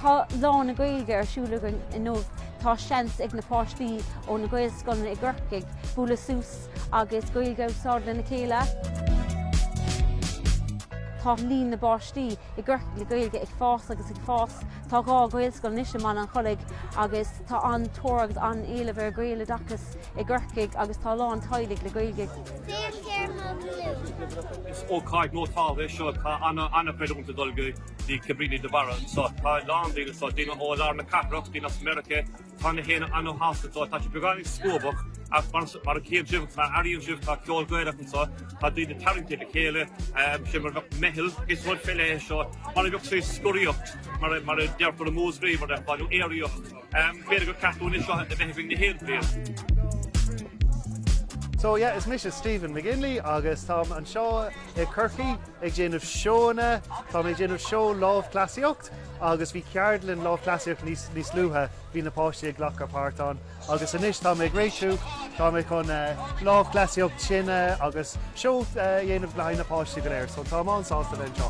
Tá Lá na Gaeilge ar siúl againn inniu. Tá seans ag na páistí ó na Gaelscoileanna i gCorcaigh bualadh suas agus Gaeilge a úsáid lena chéile. Tá líon na bpáistí i gCorcaigh le Gaeilge ag fás agus ag fás. Tá dhá Ghaelscoil anois i mBaile an Chollaigh agus tá an-tóir agus an-éileamh ar Ghaeloideachas i gCorcaigh agus tá a lán teaghlaigh le Gaeilge. Is ócáid nótáilte é seo. Tá ana-chreidiúint ag dul go dtí Cabrini de Barra anseo. Tá a lán daoine anseo, daoine ó lár na cathrach, daoine as Meiriceá. Tá gach éinne an-shásta anseo. Tá siad beagáinín scópach ach mar a chíonn sibh, mar a airíonn sibh, tá ceol Gaelach anseo. Tá daoine tarraingthe le chéile, sé mar a bheadh meitheal. Is rud féile é seo, mar a bheadh sé scoraíocht, mar a deirtear i Múscraí, mar a bheadh, nó aeraíocht. B'fhéidir gur ceart dúinn é seo a bheith ag rith gach aon bhliain. So yeah, is mise Stephen McGinley agus táim anseo i Corcaigh ag déanamh seóanna. Táim ag déanamh seó lámhchleasaíocht agus bhí ceardlann lámhchleasaíocht níos luaithe, bhí na páistí ag glacadh páirt ann agus anois táim ag réitiú, táim chun lámhchleasaíocht tine agus seó a dhéanamh le haghaidh na páistí go léir. So táim an-sásta a bheith anseo.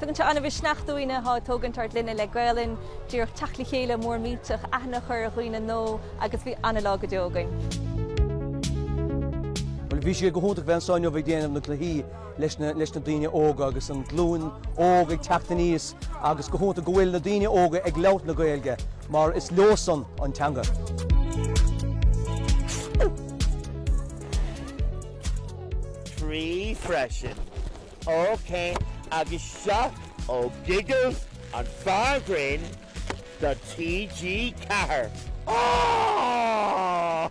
Tugann sé an-mhisneach dúinne atá ag tógaint ár gclainne le Gaelainn, díreach teacht le chéile mór millteach, aithne a chur ar dhaoine nua agus bhí an-lá go deo againn. Bhuel, bhí sé go hiontach bheith anso inniu ag déanamh na gcluichí leis na, leis na daoine óga agus an glúin óg ag teacht aníos agus go hiontach go bhfuil na daoine óga ag labhairt na Gaeilge mar is leosan an teanga freisin. OK, agus seo é Giggles an fear grinn de TG Ceathair! Aww!